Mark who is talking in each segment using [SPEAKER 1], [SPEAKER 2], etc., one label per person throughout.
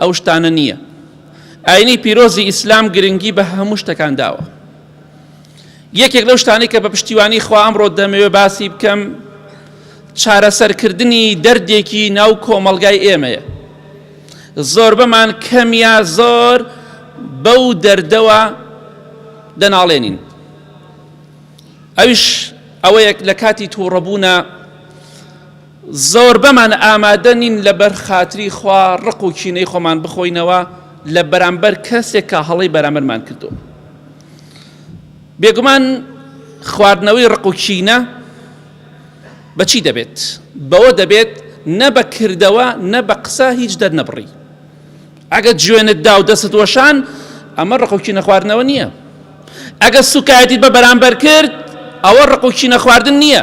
[SPEAKER 1] ئەو شتانە نییە. ئاینی پیرۆزی ئیسلام گرنگی بە هەموو شتەکان داوە. یەکێک لەو شتانەی کە بە پشتیوانی خوا ئەمڕۆ دەمەوێ باسی بکەم چارەسەرکردنی دەردێکی ناو کۆمەڵگای ئێمەیە. زۆربەمان کەم یا زۆر بەو دەردەوە دەناڵێنین. ئەویش ئەوەیەک لە کاتی تووڕەبوونا زۆربەمان ئامادە نین لەبەر خاتری خوا ڕق و کینەی خۆمان بخۆینەوە لە بەرامبەر کەسێک کە هەڵەی بەرامبەرمان کردووە. بێگومان خواردنەوەی ڕق و کینە بە چی دەبێت؟ بەوە دەبێت نە بە کردەوە نە بە قسە هیچ دەرنەبڕی. ئەگەر جوێنت دا و دەستت وەشان ئەمە ڕق و کینە خواردنەوە نییە. ئەگەر سووکایەتیت بە بەرامبەر کرد ئەوە ڕق و کینە خواردن نییە.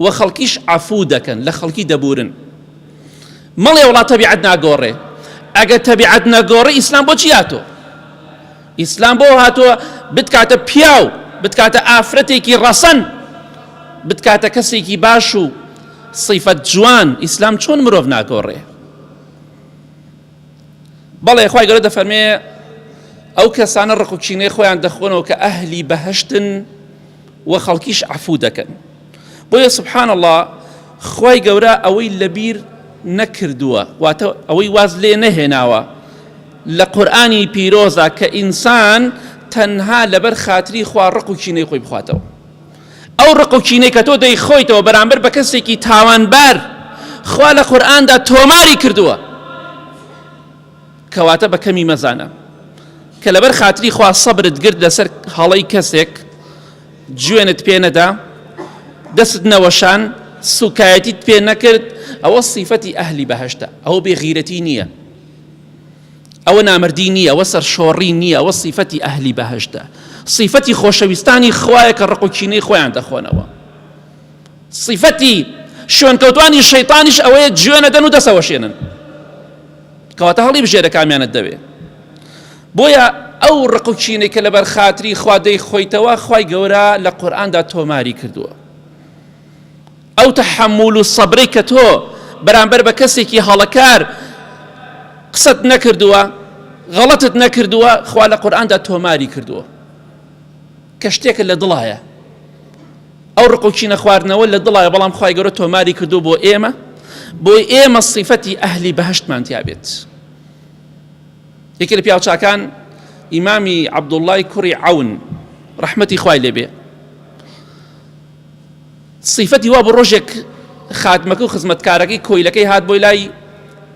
[SPEAKER 1] و خەڵکیش عەفوو دەکەن لە خەڵکی دەبورن مەڵێ وڵا تەبیعەت ناگۆڕێ ئەگە تەبیعەت نەگۆڕی ئیسلام بۆچی هاتۆ ئیسلام بۆ هاتۆ بتکاتە پیاو بتکاتە ئافرەتێکی ڕەسەن بتکاتە کەسێکی باش و صیفەت جوان ئیسلام چۆن مرۆڤ ناگۆڕێ بەڵێ خی گەورە دەفەرمێ ئەو کەسانە ڕقوچینەی خۆیان دەخۆنەوە کە ئەهلی بەهشتن وە خەڵکیش عەفوو دەکەن بۆیە سبحان اللە خوای گەورە ئەوەی لەبیر نەکردووە واتە ئەوەی واز لێ نەهێناوە لە قورئانی پیرۆزە کە ئینسان تەنها لەبەر خاتری خوا ڕق و کینەی خۆی بخواتەوە ئەو ڕق و کینەی کە تۆ دەیخۆیتەوە بەرامبەر بە کەسێکی تاوانبار خوا لە قورئاندا تۆماری کردووە کەواتە بە کەمی مەزانە کە لەبەر خاتری خوا سەبرت گرت لەسەر هەڵەی کەسێک جوێنت پێ نەدا دەست نەوەشان سوکایەتیت پێ نەکرد ئەوە سیفەتی ئەهلی بەهشتە ئەوە بێغیرەتی نییە ئەوە نامردی نییە ئەوە سەرشۆڕی نییە ئەوە سیفەتی ئەهلی بەهشتە سیفەتی خۆشەویستانی خوایە کە ڕق و کینەی خۆیان دەخۆنەوە سیفەتی شوێنکەوتوانی شەیتانیش ئەوەیە جوێ نەدەن و دەسەوەشێنن کەواتە هەڵی بژێرە کامیانت دەوێ بۆیە ئەو ڕق و چینەی کە لەبەر خاتری خوا دەی خۆیتەوە خی گەورە لە قورآاندا تۆماری کردووە ئەو تەحمول و سەبرەی کە تۆ بەرامبەر بە کەسێکی هەڵەکار قسەت نەکردووە غەڵەتت نەکردووە خوا لە قورآاندا تۆماری کردووە کە شتێکت لە دڵایە ئەو ڕق و کینە خواردنەوە لە دڵایە بەڵام خوای گەورە تۆماری کردو بۆ ئێمە بۆی ئێمە سیفەتی ئەهلی بەهشتمان تیابێت یەکێ لە پیاوچاکان ئیمامی عەبدوڵای کوڕی عون ڕەحمەتی خوای لێبێ سیفەتی وا بە ڕۆژێک خادمەکە و خزمەتکارەکەی کۆیلەکەی هات بۆی لای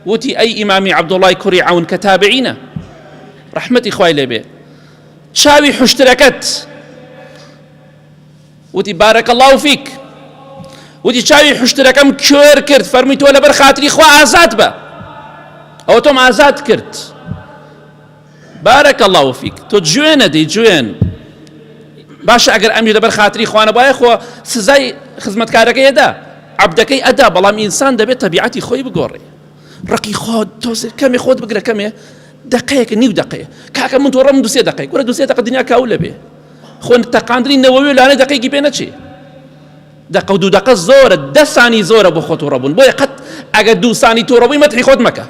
[SPEAKER 1] وتی ئەی ئیمامی عەبدوڵای کوڕی عون کە تابعینە ڕەحمەتی خوای لێبێ چاوی حوشترەکەت وتی بارەکە الله و فیک وتی چاوی حوشترەکەم کوێر کرد فەرمی تۆ لەبەر خاتری خوا ئازاد بە ئەو تۆم ئازاد کرد بارەکە الله و فیک تۆ جوێنە دەی جوێن باشە ئەگەر ئەمی لەبەر خاتری خوانە باە خۆ سزای خزمەتکارەکە ئێدا عبدەکەی ئەدا بەڵام ئینسان دەبێت تەبیعەتی خۆی بگۆڕێ ڕقی خۆت تۆزر کەمێ خۆت بگرە کەمێ دەقەیەکە نیو دەقەیە کاکە من تۆڕم دوسێ دەقەی کورە دوسێ دەقە دنیا کاو لەبێ خۆن تەقاندنی نەوەوی لانە دەقێکی پێ نەچێ دەقە و دوو دەقە زۆرە دەسانی زۆرە بۆ خۆ تۆڕەبوون بۆیە قەت ئەگە دووسانی تۆڕەبووی مەتحی خۆت مەکە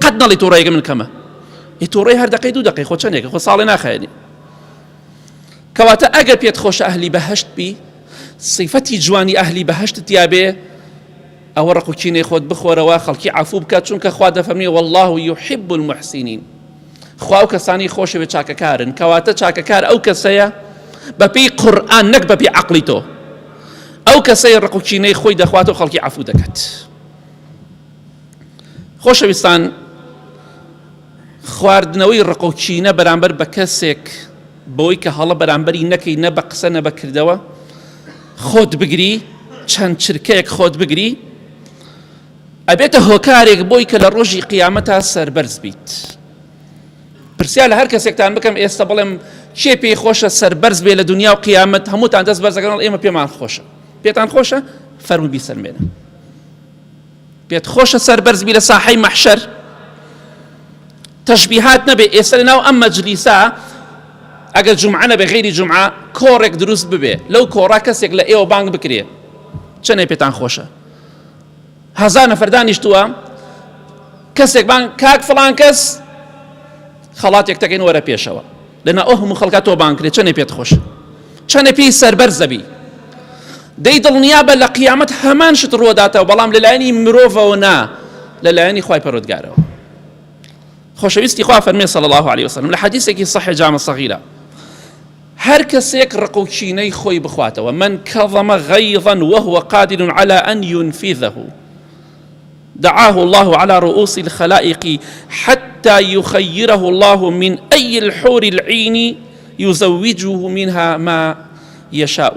[SPEAKER 1] قەت نەڵی تۆڕێگە من کەمە ئی تۆڕی هەر دەقەی دوو دەقەی خۆ چەندێکە خۆ ساڵێ ناخێنی کەواتە ئەگە پێت خۆشە ئەهلی بەهشت بی سیفەتی جوانی ئەهلی بەهشت تیاابێ ئەوە ڕق و کینەی خۆت بخۆرەوە خەڵکی عەفوو بکە چونکە خوا دەفەرمی واللە یحب المحسنین خوا ئەو کەسانی خۆشەوێت چاکەکارن کەواتە چاکەکار ئەو کەسەیە بەپێی قورئان نەک بەپێی عەقڵی تۆ ئەو کەسەی ڕق و کینەی خۆی دەخوات و خەڵکی عەفوو دەکات خۆشەویستان خواردنەوەی ڕق و کینە بەرامبەر بە کەسێک بەوەی کە هەڵە بەرامبەری نەکەی نە بە قسە نە بە کردەوە خۆت بگری چەند چرکەیەک خۆت بگری ئەبێتە هۆکارێک بۆی کە لە ڕۆژی قیامەتا سربەرز بیت پرسیال لە هەر کەسێکتان بکەم ئێستا بڵێم کێ پێی خۆشە سربەرز بێ لە دنیا و قیامەت هەمووتان دەست بەرزەکەنەوە ئێمە پێمان خۆشە پێتان خۆشە فەرمو بیسەلمێنە پێت خۆشە سەربەرز بی لە ساحەی مەحشەر تەشبیهات نەبێ ئێستا لە ناو ئەم مەجلیسە ئەگەر جمعە نەبێ غیری جمعە کۆڕێک دروست ببێ لەو کۆڕا کەسێک لە ئێوە بانگ بکرێ چەنێ پێتان خۆشە هەزار نەفەردانیشتووە کەسێک بان کاک فڵان کەس خەڵاتێک تەکەین وەرە پێشەوە لەنا ئەو هەموو خەڵکە تۆ بانگ کرێ چەنێ پێت خۆش چەنێ پێی سەربەر زەبی دەی دڵنیا بە لە قیامەت هەمان شت ڕوەداتەوە بەڵام لەلایەنی مرۆڤەوە نا لەلایەنی خی پەرۆتگارەوە خۆشەویستی خوا فەرمێ صلی الله عليه وسلم لە حەدیثێکی صحیح جامە صغیرە هەر کەسێک ڕق و چینەی خۆی بخواتەوە من کەڵەمە غەیڕەن وەهوە قادر على أن ينفذه دعاه اللە علی رئوس الخلائق حتی یخیره اللە من ای الحور العین یزوجه منها ما یشاء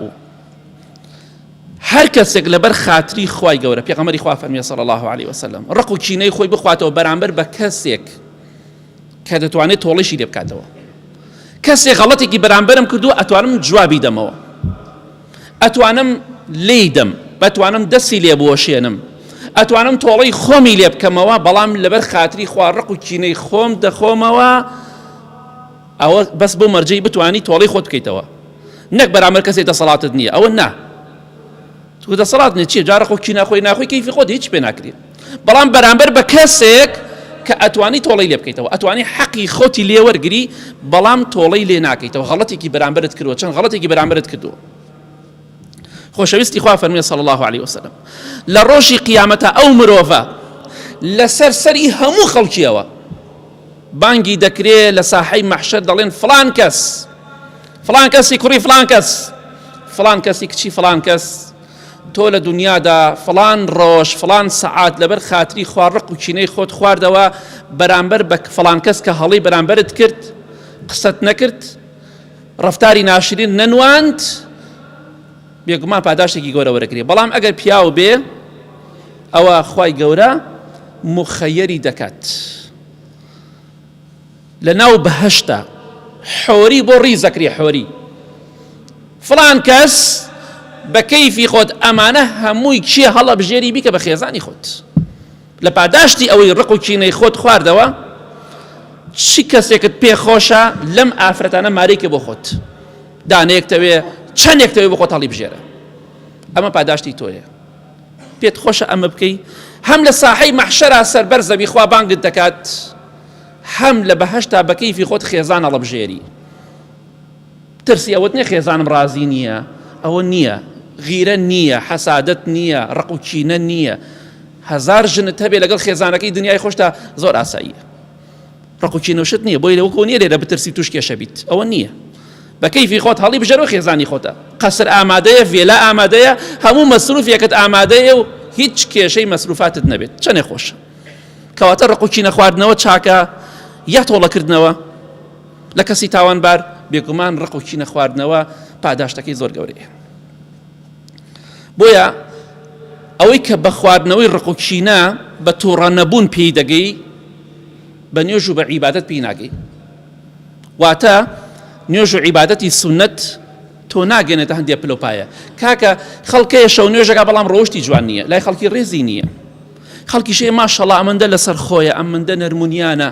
[SPEAKER 1] هەر کەسێک لەبەر خاتری خوای گەورە پێغەمبەری خوا فەرمی صلی اللە علیه وسلم ڕق و کینەی خۆی بخواتەوە بەرامبەر بە کەسێک کە دەتوانێت تۆڵیشی لێ بکاتەوە کەسێک غەڵەتێکی بەرامبەرم کردووە ئەتوانم جوابی دەمەوە ئەتوانم لێی دەم بەتوانم دەستی لێ بوەشێنم ئەتوانم تۆڵەی خۆمی لێ بکەمەوە بەڵام لەبەر خاتری خوا ڕق و کینەی خۆم دەخۆمەوە ئەوە بەس بۆ مەرجەی بتانی تۆڵەی خۆت بکەیتەوە نەک بەرامەر کەسێک دەسەڵاتت نییە ئەوە نا تو دەسەڵات نیە چیە جارە خۆ کینە خۆی ناخۆی کەیفی خۆت هیچ پێ ناکرێت بەڵام بەرامبەر بە کەسێک کە ئەتوانی تۆڵەی لێ بکەیتەوە ئەتوانی حەقی خۆتی لێوەرگری بەڵام تۆڵەی لێ ناکەیتەوە غەڵەتێکی بەرامبرت کردوە چەند غەڵەتێکی بەرامبرت کردووە خۆشەویستی خوا فەرمی صلی الله عليه وسلم لە ڕۆژی قیامەتە ئەو مرۆڤە لەسەر سەری هەموو خەڵکیەوە بانگی دەکرێ لە ساحەی مەحشەر دەڵێن فلان کەس فلان کەسی کوڕی فلان کەس فلان کەسی کچی فلان کەس تۆ لە دونیادا فڵان ڕۆژ فڵان سەعات لەبەر خاتری خوا ڕق و کینەی خۆت خواردەوە بەرامبەر بە فڵان کەس کە هەڵی بەرامبەرت کرد قسەت نەکرد ڕفتاری ناشرین نەنواند بێگومان پاداشتێکی گەورە وەرەگری بەڵام ئەگەر پیاو بێ ئەوە خی گەورە مخەیەری دەکات. لە ناو بەهەشتە حۆری بۆ ڕیز دەکرێ حۆری فڵان کەس بە کەیفی خۆت ئەمانە هەمووی چیە هەڵەبژێری بیکە بە خێزانی خۆت لە پاداشتی ئەوەی ڕق و کینەی خۆت خواردەوە چی کەسێکت پێخۆشە لەم ئافرەتانە مارێکە بۆ خۆت دانەیەکتەوێ چەندێکتەوێ بۆ خۆت هەڵی بژێرە ئەمە پاداشتی تۆیە پێت خۆشە ئەمە بکەی هەم لە ساحەی مەحشەرا سەربەر زەوی خوا بانگت دەکات حەم لە بەهەشتا بە کەیفی خۆت خێزان هەڵەبژێری ترسی ئەوەت نیە خێزانم ڕازی نییە ئەوە نییە غیرە نییە حەسادت نییە ڕق و چینە نییە هزار ژنت هەبێ لەگەڵ خێزانەکەی دنیای خۆشتا زۆر ئاساییە ڕقوچی نوشت نییە بۆی لەوەکو نیە لێرە بترسی توش کێشە بیت ئەوە نییە بە کەیفی خۆت هەڵی بژەرەوە خێزانی خۆتە قەسر ئامادەیە ڤێلا ئامادەیە هەموو مەسروفیەکەت ئامادەیە و هیچ کێشەی مەسروفاتت نەبێت چەنێ خۆشە کەواتە ڕق و کینە خواردنەوە چاکە یا تۆڵەکردنەوە لە کەسی تاوانبار بێگومان ڕق و کینە خواردنەوە پاداشتەکەی زۆر گەورەیە بۆیە ئەوەی کە بە خواردنەوەی ڕق و کینە بە تووڕە نەبوون پێی دەگەی بە نوێژ و بە عیبادت پێی ناگەی واتە نوێژ و عیباەتی سنت تۆ ناگەێنێتە هەندێک پلۆپایە کاکە خەڵکەیە شەو نوێژەکە بەڵام ڕۆشتی جوان نییە لای خەڵکی ڕێزی نییە خەڵکیشێ ماشەڵا ئەمەندە لەسەر خۆیە ئەمەندە نەرمونیانە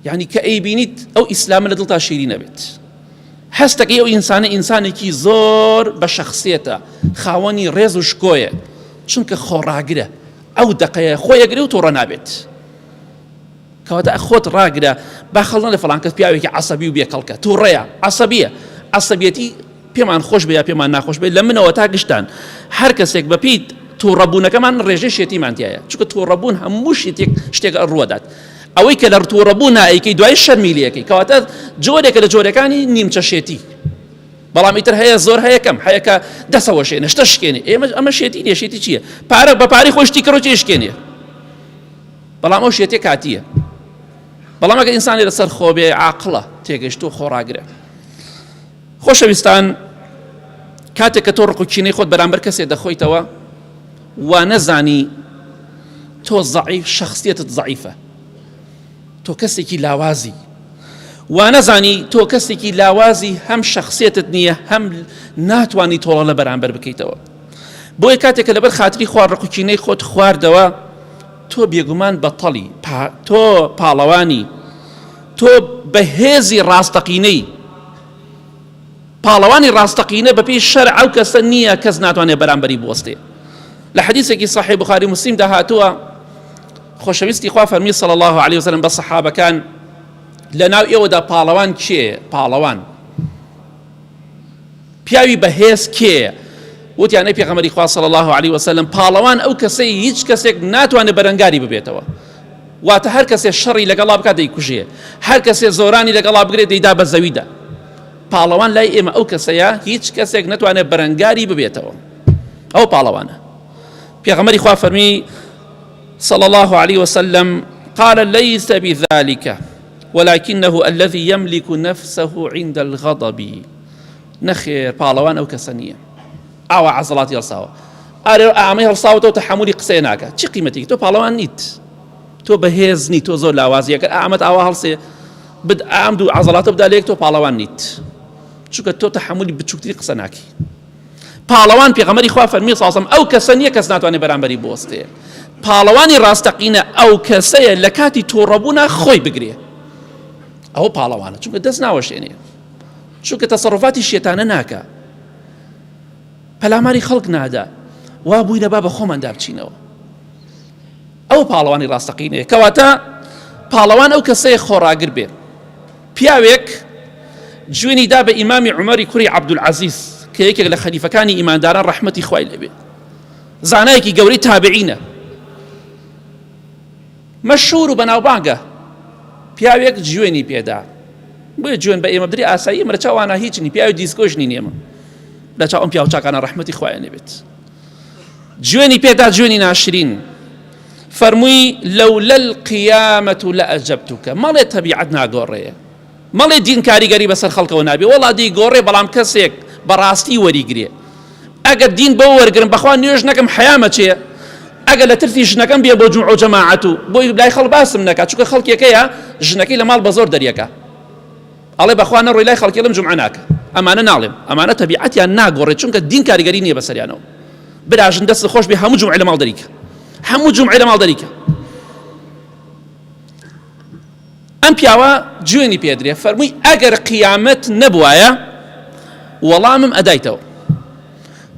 [SPEAKER 1] یعنی کە ئەی بینیت ئەو ئیسلامە لە دڵتا شیری نەبێت هەستەکەی ئەو ئینسانە ئینسانێکی زۆر بە شەخصێتە خاوەنی ڕێز و شکۆیە چونکە خۆڕاگرە ئەو دقەیە خۆیەگرێ و تۆڕە نابێت کەواتە خۆت ڕاگرە با خەڵنە لە فلانکەس پیاوێکی عسەبی و بێکەڵکە تووڕەیە عسەبیە عسەبیەتی پێمان خۆش بێ یا پێمان ناخۆش بێت لە منەوە تا گشتان هەر کەسێک بەپیت تۆڕەبوونەکەمان ڕێژەی شێتیمان دیایە چکە تۆڕەبوون هەموو شتێک شتێک ڕوەدات ئەوەی کە لە ڕتۆڕەبوو نایکەی دوای شەرمیلەکەی کەواتە جۆرێکە لە جۆرەکانی نیمچە شێتی بەڵام ئیتر هەیە زۆر هەیەکەم هەیەکە دەسەوە شێنە شتە شکێنێ ئێمە ئەمە شێتی لێشێتی چییە پارە بە پارەی خۆشتی کڕۆ چێ شکێنێ بەڵام ئەو شێتێک کاتیە بەڵام ئەگە ئینسانی لەسەر خۆبێ عقلە تێگەشت و خۆڕاگرێت خۆشەویستان کاتێک کە تۆ ڕق و کینەی خۆت بەرامبەر کەسێ دەخۆیتەوە وانەزانی تۆ زەعیف شخصیتت زەعیفە تۆ کەسێکی لاوازی وانەزانی تۆ کەسێکی لاوازی هەم شخصیتت نییە هەم ناتوانانی تۆڵە لە بەرامبەر بکەیتەوە بۆیە کاتێک کە لەبەر خاتری خوار ڕق و کینەی خۆت خواردەوە تۆ بێگومان بەتەڵی تۆ پاڵەوانی تۆ بە هێزی ڕاستەقینەی پاڵەوانی ڕاستەقینە بەپی شەرع ئەو کەسە نییە کەس ناتوانێت بەرامبەری بوەستێ لە حەدیثێکی صحی بخاری مسلیم داهاتووە خۆشەویستی خوا فەرمی صلی الله عليه وسلم بە صحابەکان لە ناو ئێوەدا پاڵەوان کێ پاڵەوان پیاوی بەهێز کێیە وتیان ئەی پێغەمەری خوا صلی الله علیه وسلم پاڵەوان ئەو کەسەی هیچ کەسێک ناتوانێت بەرەنگاری ببێتەوە واتە هەر کەسێ شەڕی لەگەڵا بکات دەیکوژێ هەر کەسێ زۆرانی لەگەڵا بگرێت دەیدا بە زەویدا پاڵەوان لای ئێمە ئەو کەسەیە هیچ کەسێک نتوانێت بەرەنگاری ببێتەوە ئەو پاڵەوانە پێغەمەری خوا فەرمی صلى الله عليه وسلم قال ليس بذلك ولکنه الذی یملک نفسه عند الغضب نەخێر پاڵەوان ئەو کەسە نییە ئاوا عەزڵاتی هەڵساوە ئارێ ئامەی هەڵساوەتەوە تەحملی قسەی ناکات چی قیمەتێکی تۆ پاڵەوان نیت تۆ بەهێز نیت تۆ زۆر لاوازیەکە ئامەد ئاوا هەڵسێ بد ئام دوو عەزڵاتە بدا لێک تۆ پاڵەوان نیت چونکە تۆ تەحملی بچووکتری قسە ناکی پاڵەوان پێغەمبەری خوا فەرمی ساسم ئەو کەسە نییە کەس ناتوانێت بەرامبەری بوەستێ پاڵەوانی ڕاستەقینە ئەو کەسەیە لە کاتی تۆڕەبوونا خۆی بگرێ ئەوە پاڵەوانە چونکە دەست ناوەشێنێ چونکە تەسەڕفاتی شێتانە ناکە پەلاماری خەڵک نادا وا بووینە با بە خۆمان دابچینەوە ئەو پاڵەوانی ڕاستەقینەیە کەواتە پاڵەوان ئەو کەسەیە خۆڕاگر بێت پیاوێک جوێنی دا بە ئیمامی عومەری کوڕی عەبدولعەزیز کە یەکێک لە خەلیفەکانی ئیمانداران ڕەحمەتی خوای لێ بێت زانایەکی گەورەی تابعینە مەشهور و بەناوبانگە پیاوێک جوێنی پێدا بۆیە جوێن بە ئێمە بدری ئاسایی ئێمە لە چاوانە هیچ نی پیاوی دیسکۆش نین ئێمە لە چاو ئەم پیاوچاکانە ڕەحمەتی خوایان لێ بێت جوێنی پێدا جوێنی ناشرین فەرمووی لەولە القیامەت و لە ئەجەبتوکە مەڵێ تەبیعەت ناگۆڕەیە مەڵێ دین کاریگەری بەسەر خەڵکەوە نابێ وەڵا دی گۆڕێ بەڵام کەسێک بەڕاستی وەریگرێ ئەگەر دین بۆ وەرگرم بەخوا نوێژ نەکەم حیامەچێ ئەگەر لە ترسی ژنەکەم بێ بۆ جمع و جەماعەت و بۆی لای خەڵ باسم نەکات چونکە خەڵکێکەیە ژنەکەی لە ماڵ بە زۆر دەریەکە ئەڵێ بەخوا نە ڕۆی لای خەڵکی ئەڵێم جومعە ناکە ئەمانە ناڵێم ئەمانە تەبیعەتیان ناگۆڕێت چونکە دین کاریگەری نییە بەسەریانەوە براژن دەست خۆش بێ هەموو جومعە لە ماڵ دەریکە هەموو جومعە لە ماڵ دەریکە ئەم پیاوە جوێنی پێدرێ فەرمووی ئەگەر قیامەت نەبوایە وەڵامم ئەدایتەوە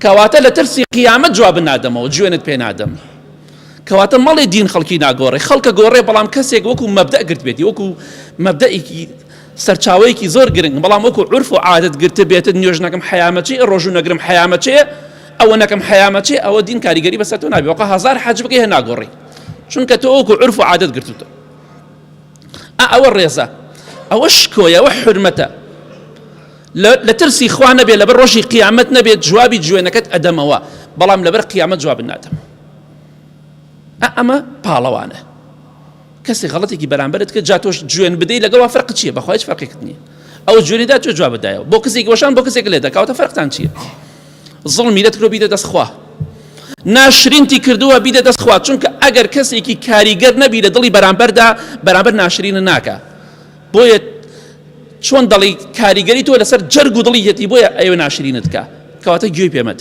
[SPEAKER 1] کەواتە لە ترسی قیامەت جواب نادەمەوە جوێنت پێ نادەم کەواتە مەڵێ دین خەڵکی ناگۆڕێ خەڵکە گۆڕێ بەڵام کەسێک وەکو مەبدەئ گرت بێتی وەکو مەبدەئێکی سەرچاوەیەکی زۆر گرنگ بەڵام وەکو عورف و عادەت گرتە بێتت نوێژ نەکەم حەیامەچی ڕۆژوو نەگرم حەیامەچێ ئەوە نەکەم حەیامەچێ ئەوە دین کاریگەری بەسەر تۆ نابێ وەقە هەزار حەج بکەی هەر ناگۆڕی چونکە تۆ وەکو عورف و عادەت گرتوتە ئەوە ڕێزە ئەوە شکۆیەوە حرمەتە لە ترسی خوا نەبێت لەبەر ڕۆژی قیامەت نەبێت جوابی جوێنەکەت ئەدەمەوە بەڵام لەبەر قیامەت جواب نادەم ئەمە پاڵەوانە کەسی غەڵەتێکی بەرامبەرت کە جا تۆش جوێن بدەی لەگەڵ فەرق چییە بەخوایش فەرقێکت نییە ئەو جوێنیدا تۆ جواب بدایەوە بۆ کەسێکی وەشان بۆ کەسێک لێ دەکاوتە فەرقتان چییە زڵمی لە ترۆ بیدە دەستخوا ناشرینتی کردووە بیدە دەستخوا چونکە ئەگەر کەسێکی کاریگەر نەبی لە دڵی بەرامبەردا بەرامبەر ناشرینە ناکە بۆیە چۆن دەڵی کاریگەری تۆ لەسەر جەرگ و دڵی یەتی بۆیە ئەوێ ناشرینت کە کەواتە گوێی پێمەت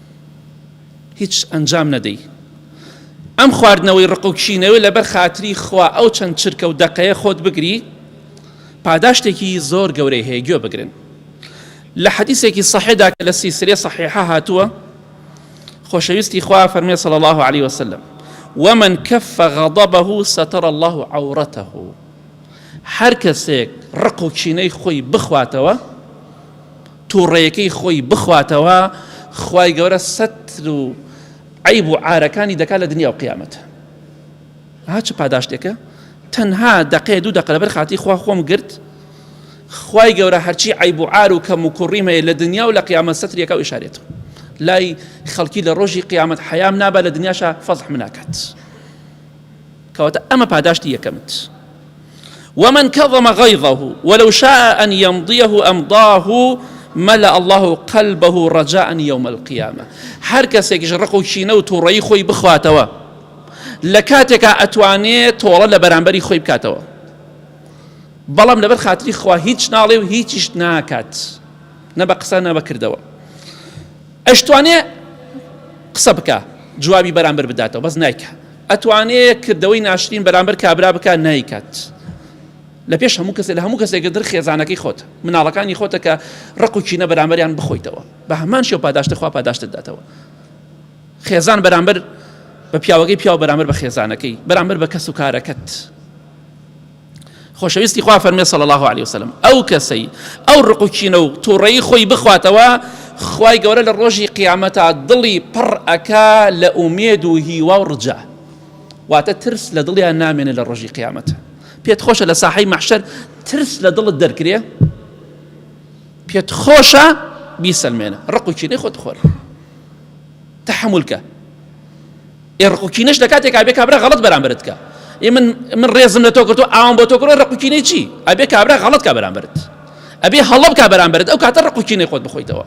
[SPEAKER 1] هیچ ئەنجام نەدەی ئەم خواردنەوەی ڕق و کشینەوەی لەبەر خاتری خوا ئەو چەند چرکە و دەقەیە خۆت بگری پاداشتێکی زۆر گەورەی هەیە گوێ بگرن لە حەدیسێکی صحێدا کە لە سیسرێ صحیحە هاتووە خۆشەویستی خوا فەرمێ صلى الله عليه وسلم ومن كف غضبه ستر الله عورته هەر کەسێک ڕق و کینەی خۆی بخواتەوە توڕەیەکەی خۆی بخواتەوە خوای گەورە سەتر و عەیب و عارەکانی دەکات لە دنیا و قیامەت ها چ پاداشتێکە تەنها دەقێ دوو دەقە لەبەر خاتی خوا خۆم گرت خوای گەورە هەرچی عیب و عار و کەم و کوڕیم هەیە لە دنیا و لە قیامە سەتریەکە و ئشارێت لای خەڵکی لە ڕۆژی قیامەت حەیام نابە لە دنیاشە فەزح مناکات کەواتە ئەمە پاداشتی یەکەمت ومن کەظم غیظه ولو شاء ان یمضیه امضاه ملأ الله قلبه رجاء یوم القیامە هەر کەسێکیش ڕق و کینە و توڕەی خۆی بخواتەوە لە کاتێکا ئەتوانێ تۆڵە لە بەرامبەری خۆی بکاتەوە بەڵام لەبەر خاتری خوا هیچ ناڵێ و هیچیش ناکات نە بە قسە نە بەکردەوە ئەشتوانێ قسە بکە جوابی بەرامبەر بداتەوە بەس نایکە ئەتوانێ کردەوەی ناشرین بەرامبەر کابرا بکات نایکات لەپێش هەموو کەسێک لە هەموو کەسێکتر خێزانەکەی خۆت مناڵەکانی خۆتە کە ڕق و چینە بەرامبەریان بخۆیتەوە بە هەمان شێو پاداشتە خوا پاداشتت داتەوە خێزان بەرامبەر بە پیاوەکەی پیاو بەرامبەر بە خێزانەکەی بەرامبەر بە کەس و کارەکەت خۆشەویستی خوا فەرمێ صلی الله علیه وسلم ئەو کەسەی ئەو ڕق و کینە و تووڕەی خۆی بخواتەوە خوای گەورە لە ڕۆژی قیامەتا دڵی پڕ ئەکا لە ئومێد و هیوا و ڕجا واتە ترس لە دڵیان نامێنێ لە ڕۆژی قیامەت پێت خۆشە لە ساحەی مەحشەر ترس لە دڵت دەرکرێ پێت خۆشە بیسەلمێنە ڕق و کینەی خۆت خۆر تحملکە ڕق و کینەش لەکاتێک ئەبێ کابرا غەڵەت بەرامبەرت کا ی من من ڕێزم لەتۆ کرد تۆ ئاوام بۆتۆ کڕۆ ڕق و کینەی چی ئەبێ کابرا غەڵەت کا بەرامبەرت ئەبێ هەڵە بکا بەرامبەرت ئەو کاتە ڕق و کینەی خۆت بخۆیتەوە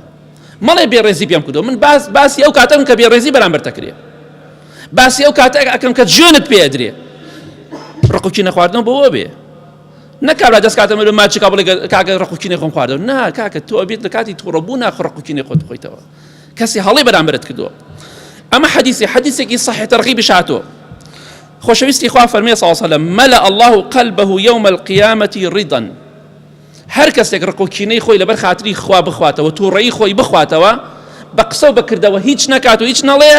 [SPEAKER 1] مەڵێ بێ ڕێزی پێم کردو من باس باسی ئەو کاتەم کە بێ ڕێزی بەرامبەرتە کرێ باسی ئەو کاتە ئەکەم کە جوێنت پێ درێ ڕق و کینە خواردنەوە بۆ بێ نەکارا دەست کاتە مرۆ ماچکا بڵێ کاکە ڕق و کینەی خۆم خواردەوە نا کاکە تۆ ئەبێت لە کاتی تووڕەبوونا خڕق و کینەی خۆت بخۆیتەوە کەسی هەڵەی بەرامبەرت کردووە ئەمە حەدیثی حەدیثێکی صحیح تەرغیبش هاتووە خۆشەویستی خوا فەرمی صلی الله عليه مەلا الله قلبه يوم القيامة رضا هەر کەسێک ڕقوکینەی خۆی لەبەر خاتری خوا بخواتەوە تووڕەی خۆی بخواتەوە بە قسە و بەکردەوە هیچ نکات و هیچ نەڵێ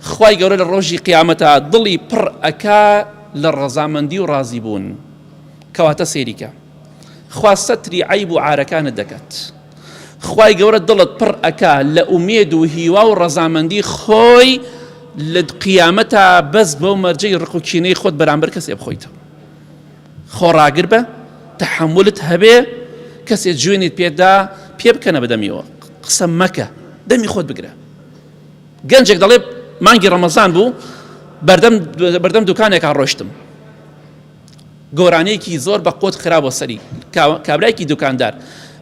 [SPEAKER 1] خی گەورە لە ڕۆژی قیامەتە دڵی پڕ ئەک لە ڕەزامەندی و ڕازی بوون کەواتە سێریکە خوا سەتری عیب و عارەکانت دەکات. خوای گەورە دڵت پڕ ئەکا لە ئومێد و هیوا و ڕەزامەندی خۆی لە قیامەتا بەس بەو مەرجەی ڕق و کینەی خۆت بەرامبەر کەسێ بخۆیتەوە خۆڕاگر بە تەحملت هەبێ کەسێ جوێنت پێدا پێ بکەنە بەدەمیەوە قسە مەکە دەمی خۆت بگرە گەنجێک دەڵێ مانگی ڕەمەزان بوو بەردەم بەردەم دوکانێکا ڕۆشتم گۆرانیەکی زۆر بە قۆت خراوە سەری کابرایکی دوکاندار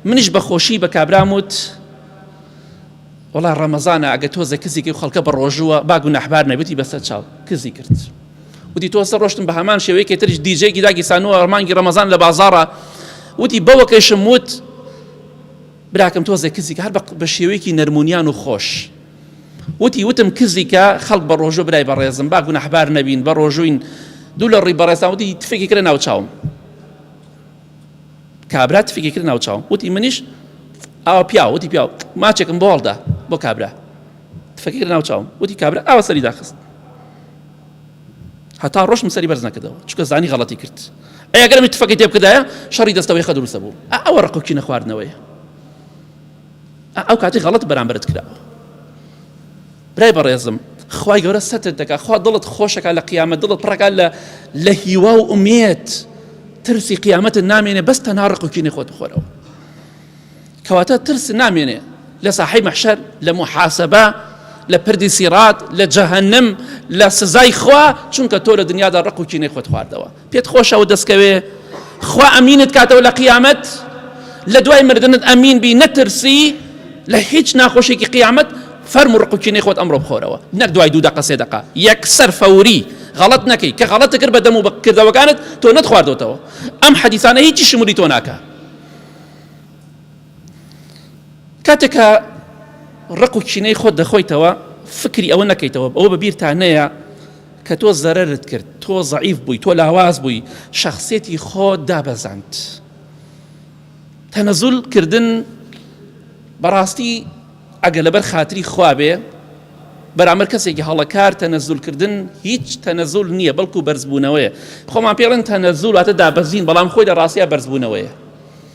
[SPEAKER 1] منیش بە خۆشی بە کابرام وت وڵا ڕەمەزانە ئەگە تۆزە کزیکی و خەڵکە بە ڕۆژووە با گوناحبار نەبێتی بەسەر چاو کزی کرد وتی تۆ سە ڕۆشتن بە هەمان شێوەیەکی ترش دیجێکی داگی سانووە ڕمانگی ڕەمەزان لە بازارە وتی بەوەکەشم وت براکەم تۆزێ کزیک هەر بە شێوەیەکی نەرمونیان و خۆش وتی وتم کزی کە خەڵک بە ڕۆژۆ برای بەڕێزم با گوناحبار نەبین بە ڕۆژوین دوو لە ڕووی بەڕێزان وتی تفێکی کرە ناو چاوم کابرا تفێکی کرد ناو چاوم وتی منیش ئاوا پیا وتی پیا ماچێکم بۆ هەڵدا بۆ کابرا تفەکی کرد ناو چاوم وتی کابرا ئاوا سەری داخست هەتا ڕۆشتم سەری بەرز نەکردەوە چکە زانی غەڵەتی کرد ئەگەرمی تفەکەی تێ بکردایە شەڕی دەستەوەی خە دروستە بوو ئەوە ڕقکی نەخواردنەوەی ئەو کاتی غەڵەت بەرامبەرت کراوە برای بەڕێزم خی گەورە سەتت دەکات خوا دڵت خۆشەکە لە قیامە دڵت پڕەکە لە لە هیوا و ئومێت ترسی قیامەت نامێنێ بەس تەنها ڕقوکینی خۆت بخۆرەوە کەواتە ترس نامێنێ لە ساحی مەحشەر لە محاسبە لە پردی سیرات لە جەهنم لە سزای خوا چونکە تۆ لە دنیادا ڕق و کینەی خۆت خواردەوە پێت خۆشە و دەستکەوێ خوا ئەمینت کاتەوە لە قیامەت لە دوای مردنت ئەمین بی نەترسی لە هیچ ناخۆشێکی قیامەت فەرم و ڕقوچینەی خۆت ئەمڕۆ بخۆرەوە نەک دوای دوو دقە سێ دقە یەکسەر فەوری غەڵت نەکەی کە غەڵەت کرد بە دەم و بەکردەوەکانت تۆ نەتخواردۆتەوە ئەم حەدیسانە هیچی شمولی تۆ ناکە کاتێک کە ڕق و کینەی خۆت دەخۆیتەوە فکری ئەوە نەکەیتەوە ئەوە بە بیرتان نەیە کە تۆ زەرت کرد تۆ زعیف بووی تۆ لاواز بووی شخصێتی خۆ دابەزاند تەنەزول کردن بەڕاستی ئەگە لەبەر خاتری خوابێ بەرامەر کەسێکی هەڵەکار تەنەزول کردن هیچ تەنەزول نییە بەڵکو بەرزبوونەوەیە خۆمان پێڵێن تەنەزول واتە دابەزین بەڵام خۆی لە ڕاستە بەرزبوونەوەیە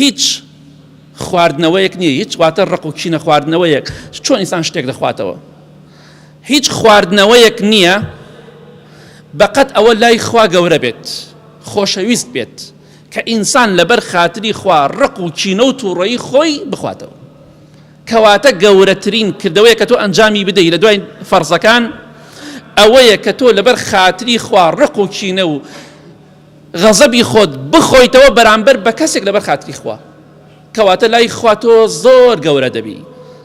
[SPEAKER 1] هیچ خواردنەوەیەک نیە هیچ واتە ڕق و کینە خواردنەوەیەک چۆن ئینسان شتێک دەخواتەوە هیچ خواردنەوەیەک نییە بەقەت ئەوە لای خوا گەورە بێت خۆشەویست بێت کە ئینسان لەبەر خاتری خوا ڕق و کینە و تووڕەی خۆی بخواتەوە کەواتە گەورەترین کردەوەیە کە تۆ ئەنجامی بدەی لە دوای فەرزەکان ئەوەیە کە تۆ لەبەر خاتری خوا ڕق و کینە و غەزەبی خۆت بخۆیتەوە بەرامبەر بە کەسێک لەبەر خاتری خوا کەواتە لای خوا تۆ زۆر گەورە دەبی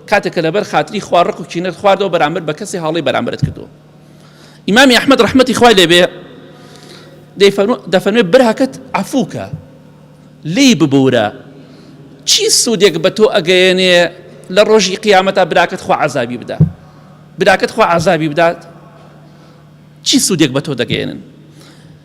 [SPEAKER 1] کاتێک کە لەبەر خاتری خوا ڕق و کینەت خواردەوە بەرامبەر بە کەسی هاڵی بەرامبرت کردو ئیمامی ئەحمد ڕحمەتی خوای لێبێ دەفەرمێ برهکت عفوکە لی ببورە چی سوودێک بە تۆ ئەگەیەنێ لە ڕۆژی قیامەتا براکەت خوا عذابی بدا براکەت خوا عذابی بدات چی سوودێک بە تۆ دەگەێنن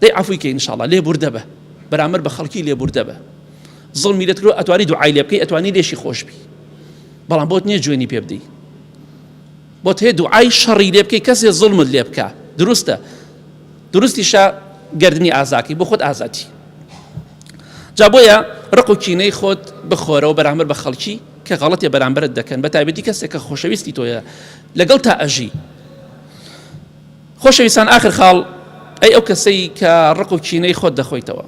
[SPEAKER 1] دەی عەفوی کەی انشااللە لێ بوردە بە بەرامبەر بە خەڵکی لێ بوردە بە زڵمی لێت کرۆ ئەتوانی دوعای لێ بکەی ئەتوانی لێشی خۆش بی بەڵام بۆت نییە جوێنی پێ بدەی بۆت هەیە دوعای شەڕی لێ بکەی کەسێ زڵمت لێ بکە دروستە دروستیشە گردنی ئازاکی بۆ خۆت ئازاتی جا بۆیە ڕق و کینەی خۆت بخۆرەوە بەرامبەر بە خەڵکی کە غەڵەتێ بەرامبرت دەکەن بە تایبەتی کەسێک کە خۆشەویستی تۆیە لەگەڵ تا ئەژی خۆشەویستان ئاخر خاڵ ئەی ئەو کەسەی کە ڕق و کینەی خۆت دەخۆیتەوە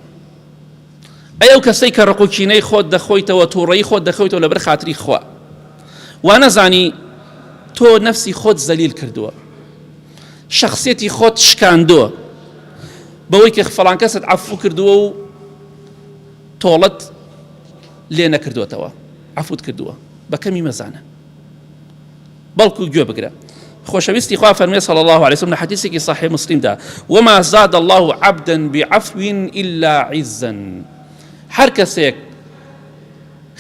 [SPEAKER 1] ئەی ئەو کەسەی کە ڕق و کینەی خۆت دەخۆیتەوە تووڕەی خۆت دەخۆیتەوە لەبەر خاتری خوا وانەزانی تۆ نەفسی خۆت زەلیل کردووە شخصێتی خۆت شکاندووە بەوەی کە فڵان کەست عفو کردووە و تۆڵت لێ نەکردوێتەوە عفوت کردووە بەکەمی مەزانە بەڵکو گوێ بگرە. خۆشەویستی خوا فەرمێ صلی الله علیه وسلم لە حەدیسێکی صحیح مسلم دا وما زاد الله عبدا بعفو الا عزا هەر کەسێک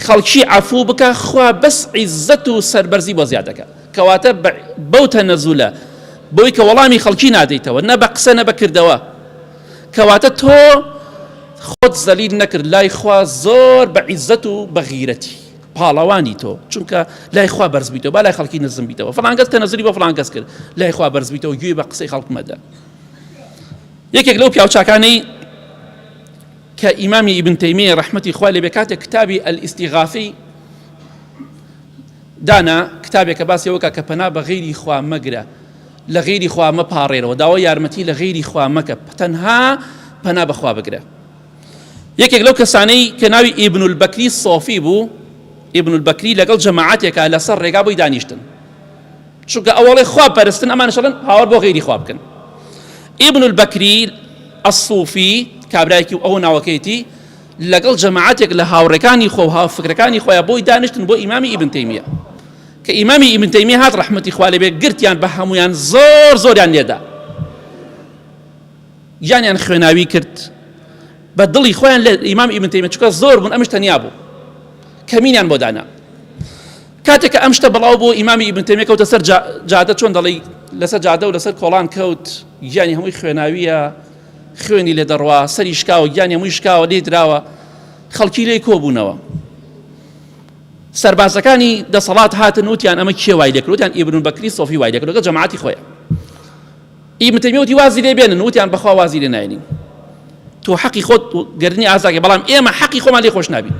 [SPEAKER 1] خەڵکی عفو بکە خوا بەس عزت و سەربەرزی بۆ زیاد دەکە کەواتە بەو تەنەزولە بۆی کە وەڵامی خەڵکی نادەیتەوە نە بە قسە نە بەکردەوە کەواتە تۆ خۆت زەلیل نەکرد لای خوا زۆر بە عزت و بەغیرەتی پاڵەوانی تۆ چونکە لای خوا بەرز بیتەوە با لای خەڵکی نزم بیتەوە فڵانگەس کە نزری بە فڵانگەس کرد لای خوا بەرز بیتەوە گوێ بە قسەی خەڵک مەدە یەکێک لەو پیاوچکانەی کە ئیمامی ئیبن تەیمیە ڕحمەتی خوا لێ بێ کاتێک کتابی ئەلیستیغافی دانا کتابێکە باسی ئەوکە کە پەنا بە غیری خوا مەگرە لە غیری خوا مەپارێرەوە داوای یارمەتی لە غیری خوا مەکە تەنها پەنا بەخوا بگرە یەکێک لەو کەسانەی کە ناوی ئیبن البەکری سۆفی بوو ئیبن البەکری لەگەڵ جەماعاتێکا لەسەر ڕێگا بۆی دانیشتن چونکە ئەوڵێ خواب پەرستن ئەمانشڵن هاوار بۆ غیری خواب بکەن ئیبن البەکری ئەسوفی کابراایکی و ئەو ناوەکەیتی لەگەڵ جەماعاتێک لە هاوڕەکانی خۆ هاو فکرەکانی خۆیان بۆی دانیشتن بۆ ئیمامی ئیبن تەیمیە کە ئیمامی ئیبن تەیمی هات ڕحمەتی خوالێ بێ گرتیان بە هەمویان زۆر زۆریان لێدا گیانیان خوێناوی کرد بە دڵی خۆیان لە ئیمام ئیبن تەیمیە چکە زۆر بوون ئەمش تەنیا بوو کەمینیان بۆ دانا کاتێک کە ئەم شتە بەڵاو بۆ ئیمامی ئیبن تەیمیە کەوتە سەر جادە چۆن دەڵی لەسەر جادە و لەسەر کۆڵان کەوت گیانی هەمووی خوێناویە خوێنی لێ دەڕوا سەری شکاوە گیانی هەمووی شکاوە لێ دراوە خەڵکی لێی کۆبوونەوە سەربازەکانی دەسەڵات هاتن وتیان ئەمە کێ وای لەکرۆتیان ئیبرون بەکری سۆفی وای لەکرۆگە جەماعتی خۆیان ئیبن تەیمیە وتی وازی لێ بێنن وتیان بەخوا وازی لێ ناێنین تۆ حەقی خۆت گردنی ئازاگە بەڵام ئێمە حەقی خۆمان لێ خۆش نابین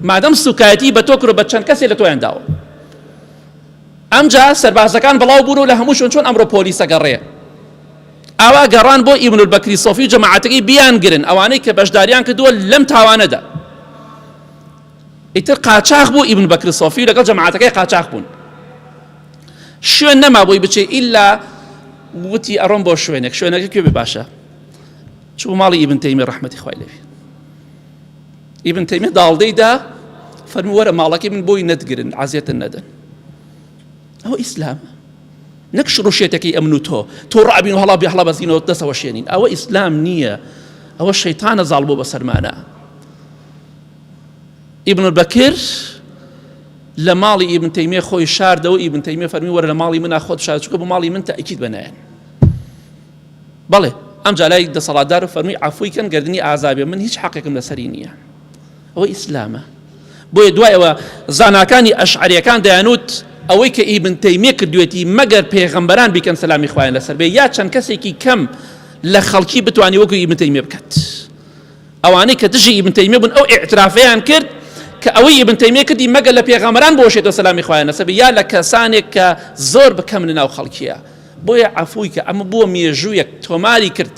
[SPEAKER 1] مادەم سوکایەتی بە تۆ کرۆ بە چەند کەسێ لە تۆیان داوە ئەمجا سەربازەکان بڵاو بوون و لە هەموو شوێن چۆن ئەمڕۆ پۆلیسە گەڕێ ئاوا گەڕان بۆ ئیبن بەکری سۆفی و جەماعەتەکەی بیان گرن ئەوانەی کە بەشداریان کردووە لەم تاوانەدا ئیتر قاچاخ بوو ئیبن بەکری سۆفی لەگەڵ جەماعەتەکەی قاچاخ بوون شوێن نەما بۆی بچێ ئیلا وتی ئەڕۆم بۆ شوێنێک شوێنەکە کوێ باشە چوو ماڵی ئیبن تەیمی ڕەحمەتی خوای لەوێ ئیبن تەیمی داڵدەیدا فەرمو وەرە ماڵەکەی من بۆی نەتگرن عزیێتن نەدەن ئەوە ئیسلام نەک شڕوشێتەکەی ئەمن و تۆ تۆ ڕابین و هەڵا بێ هەڵا بەزینەوە دەسەوە شێنین ئەوە ئیسلام نییە ئەوە شەیتانە زاڵ بۆ بەسەرمانە ئیبن بەکر لە ماڵی ئیبن تەیمیە خۆی شاردەوە ئیبن تەیمیە فەرمی وەرە لە ماڵی منا خۆت شار چکە بۆ ماڵی من تاکیت بەنایەن بەڵێ ئەم جالای دەسەڵاتدار و فەرمی عفوی کەن گردنی ئازابێ من هیچ حەقێکم لەسەری نییە ئەوە ئیسلامە بۆیە دوایەوە زاناکانی ئەشعریەکان دەیانوت ئەوەی کە ئیبن تەیمیە کردوێتی مەگەر پێغەمبەران بیکەن سەلامی خوایان لەسەر بێ یا چەند کەسێکی کەم لە خەڵکی بتانی وەکو ئیبن تەیمیە بکات ئەوانەی کە دژی ئیبن تەیمیە بوون ئەو ئیعترافەیان کرد کە ئەوەی ئیبن تەیمیە کردی مەگە لە پێغەمبەران بۆشێتەوە سەلامی خوایان لەسەر بێ یا لە کەسانێک کە زۆر بکەم لە ناو خەڵکیە بۆیە عەفووی کە ئەمە بووە مێژوویەک تۆماری کرد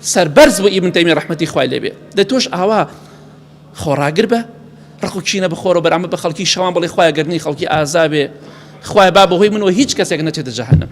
[SPEAKER 1] سەربەرز بۆ ئیبن تەیمیە ڕەحمەتی خوای لێبێ دە تۆش ئاوا خۆڕاگر بە ڕقو چینە بخۆرە بەرامە بە خەڵکی شەوان بڵێ خوای گەرنی خەڵکی ئازابێ خوای با بەهۆی منەوە هیچ کەسێک نەچێتە جەهەنم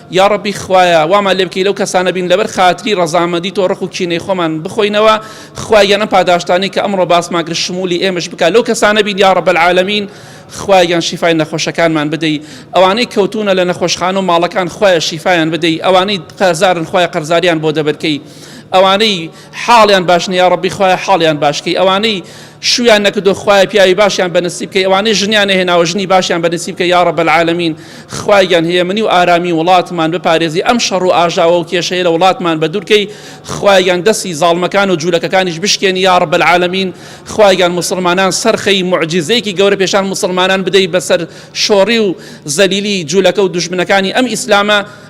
[SPEAKER 1] یاڕەبی خوایە وامان لێ بکەی لەو کەسانە بین لەبەر خاتری ڕەزامەندی تۆ ڕق و کینەی خۆمان بخۆینەوە خوای گیان ئەم پاداشتانەی کە ئەمڕۆ باسمان کرد شمولی ئێمەش بکە لەو کەسانە بین یا ڕەب العالمین خوای گیان شیفای نەخۆشەکانمان بدەی ئەوانەی کەوتونە لە نەخۆشخانە و ماڵەکان خوایە شیفایان بدەی ئەوانەی قەرزارن خوای قەرزاریان بۆ دەبەرکەی ئەوانەی حاڵیان باش نیە یاڕەبی خوایە حاڵیان باش کەی ئەوانەی شویان نەکردو خوایە پیاوی باشیان بەنسیب کەی ئەوانەی ژنیان نەهێناوە ژنی باشیان بەنسیب کە یاڕە بەلعالمین خوایان هەیە منی و ئارامی وڵاتمان بپارێزی ئەم شەڕ و ئاژاوە و کێشەیە لە وڵاتمان بە دوورکەی خوایان دەسی زاڵمەکان و جوولەکەکانیش بشکێنی یاڕە بەلعالمین خوایان مسلمانان سەرخەی معجززەیەکی گەورە پێشان مسلمانان بدەی بەسەر شۆڕی و زەلیلی جوولەکە و دژمنەکانی ئەم ئیسلامە